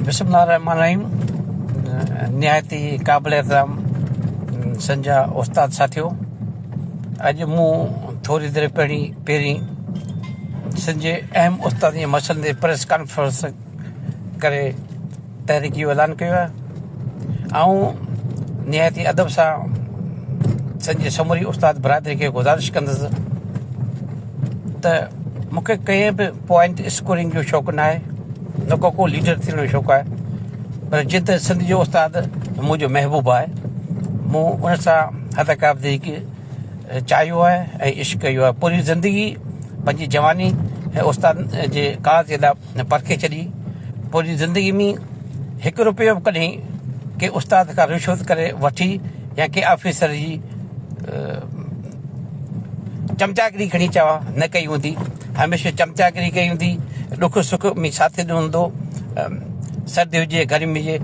بسم الله الرحمٰن الرحيم نهايت ئي قابل احترام سنجا استاد ساٿيو اڄ مون ٿوري دير پهرين پهرين سنجي اهم استاد جي مسئلن تي پريس ڪانفرنس ڪري تحريڪي جو اعلان ڪيو آهي آئون نهايت ئي ادب سان سنجي سموري استاد برادري کي گذارش ڪندس ته مونکي ڪنهن به پوائنٽ اسڪورنگ جو شوق ناهي نه ڪو ڪو ليڊر ٿيڻ جو شوق آهي پر جيئن ته سنڌ جو استاد منهنجو محبوب آهي مون ان سان حد قاب دي ڪي چاهيو آهي ۽ عشق ڪيو آهي پوري زندگي پنهنجي جواني ۽ استاد جي ڪار جي لاء پرکي ڇڏي پوري زندگي ۾ هڪ روپيو به ڪڏهن ڪي استاد کان رشوت ڪري وٺي يا ڪي آفيسر جي چمچاگري کڻي چوان نه ڪئي هوندي، هميشه چمچاگري ڪئي هوندي، ڏک سک ۾ ساٿ ڏنو هوندو، سردي هجي گرمي هجي،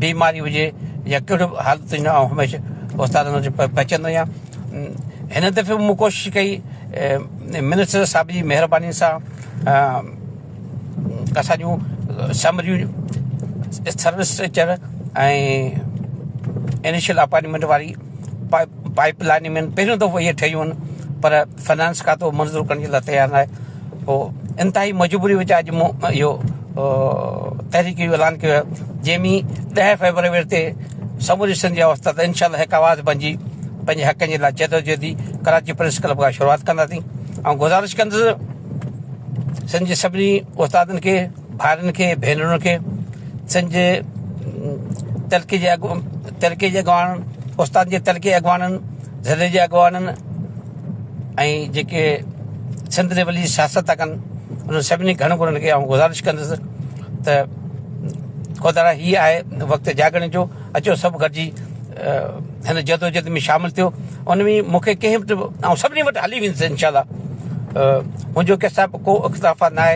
بيماري هجي يا ڪهڙو به حالت هجي آئون هميشه استاد وٽ پهچندو هيان، هن دفعي به مون ڪوشش ڪئي منسٽر صاحب جي مهرباني سان اسان جون سمريون سروس اسٽرڪچر ۽ انيشل اپائنٽمينٽ واري پائيپ لائين ۾ پهريون دفعو اهي ٺهيون آهن پر فنانس کاتو منظور ڪرڻ جي لاء تيار ناهي پوء انتهائي مجبوري وچان اڄ مون اهو تحريڪ جو اعلان ڪيو آهي جنهن ۾ ڏهه فيبروري تي سموري سنڌ جي اوستا تي انشاء الله هڪ آواز بنجي پنهنجي حقن جي لاء جدوجهدي ڪراچي پريس ڪلب کان شروعات ڪنداسين ۽ گذارش ڪندس سنڌ جي سڀني استادن کي ڀائرن کي ڀينرن کي سنج تلڪي جي اڳ تلڪي جي اڳواڻ استاد جي تلڪي اڳواڻن ضلعي جي اڳواڻن ۽ جيڪي سنڌ جي ولي سياست ٿا ڪن انهن سڀني گهڻ گهڻن کي آئون گذارش ڪندس ته خدارا هي آهي وقت جاڳڻ جو اچو سڀ گڏجي هن جدوجد ۾ شامل ٿيو ان ۾ مونکي ڪنهن وٽ آئون سڀني وٽ هلي ويندس انشاء الله منهنجو ڪسا ڪو اختلافات ناهي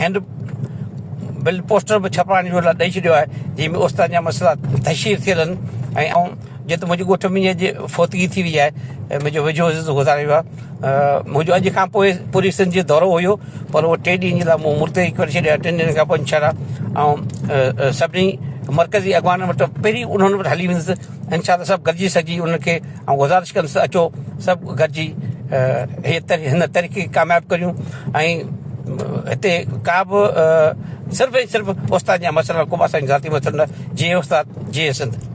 هينڊ بل پوسٽر به ڇپرائڻ جو ڏئي ڇڏيو آهي جنهن ۾ اوستان جا مسئلا تشهير ٿيل آهن ۽ آئون جيئن ته منهنجي ڳوٺ ۾ اڄ فوتگي ٿي وئي آهي ۽ منهنجو ويجهو عزيز گذاري ويو آهي منهنجو اڄ کان پوء پوري سنڌ جو دورو هيو پر اهو ٽي ڏينهن جي لاء مون مرتهي ڪري ڇڏيو آهي ٽن ڏينهن کان پوء انشاء الله آئون سڀني مرڪزي اڳواڻن وٽ پهرين انهن وٽ هلي ويندس انشاء الله سڀ گڏجي سڄي ان کي آئون گذارش ڪندس ته اچو سڀ گڏجي هن تحريڪ کي ڪامياب ڪريون ۽ هتي ڪا به صرف ۽ صرف استاد جا مسئلا ڪو به اسان جا ذاتي مسئلا نه جي استاد جي سنڌ.